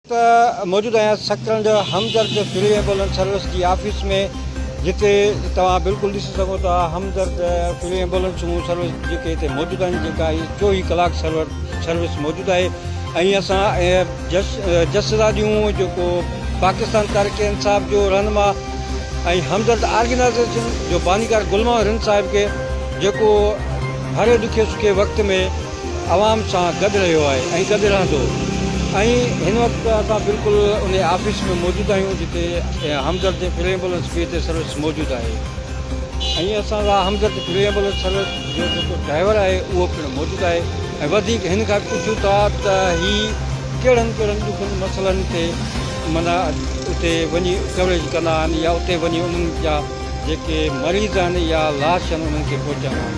ته موجود آهيان Sakrand Hamdard free ambulance service جي آفيس ۾ جتي توهان بلڪل ڏسي سگهو ٿا همدرد فري ايمبولنس سروس جيڪي هتي موجود آهن جيڪا هي چوويهه ڪلاڪ سرور سروس موجود آهي ۽ اسان جس جسرا ڏيون جيڪو پاڪستان تاريخ انصاف جو رهنما ۽ همدرد آرگنائزيشن جو بانيڪار گلمان رند صاحب کي جيڪو هر ڏکي سکي وقت ۾ عوام سان گڏ رهيو آهي ۽ گڏ رهندو ۽ هن وقت اسان بلڪل ان آفيس ۾ موجود آهيون جتي Hamdard free ambulance B T service موجود آهي ۽ اسان سان همدرد فلي ايمبولنس سروس جو جيڪو ڊرائيور آهي اهو پڻ موجود آهي ۽ وڌيڪ هن کان پڇون ٿا ته هي ڪهڙن ڪهڙن ڏکن مسئلن تي معنيٰ اتي وڃي ڪوريج ڪندا آهن يا اتي وڃي انهن جا جيڪي مريض آهن يا لاش آهن انهن کي پهچانا آهن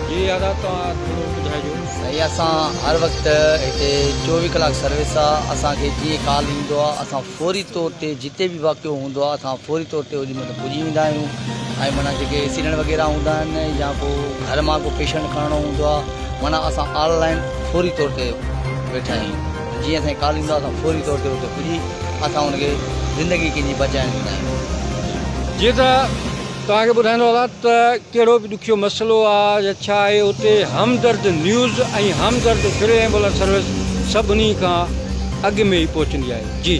جي ادا توهان ٿورو ٻڌائجو. سائين اسان هر وقت هتي چوويهه ڪلاڪ سروس آ اسان کي جيئن ڪال ايندو آ اسان فوري طور تي جتي به واقعو هوندو آ اسان فوري طور تي اوڏي مهل پڄي ويندا آهيون ۽ معنيٰ جيڪي ايڪسيڊنٽ وغيره هوندا آهن يا ڪو گهر مان ڪو پيشنٽ کڻڻو هوندو آ معنيٰ اسان آن لائين فوري طور تي ويٺا آهيون. جيئن اسان کي ڪال ايندو آهي اسان فوري طور تي اتي پڄي اسان ان کي زندگي ڪنهن جي بچائڻ ويندا آهيون. جيئن ته توهان کي ٻڌائيندو هلان ته ڪهڙو به ڏکيو مسئلو آ يا ڇا آهي اتي Hamdard news ۽ Hamdard free ambulance service سڀني کان اڳ ۾ ئي پهچندي آهي جي.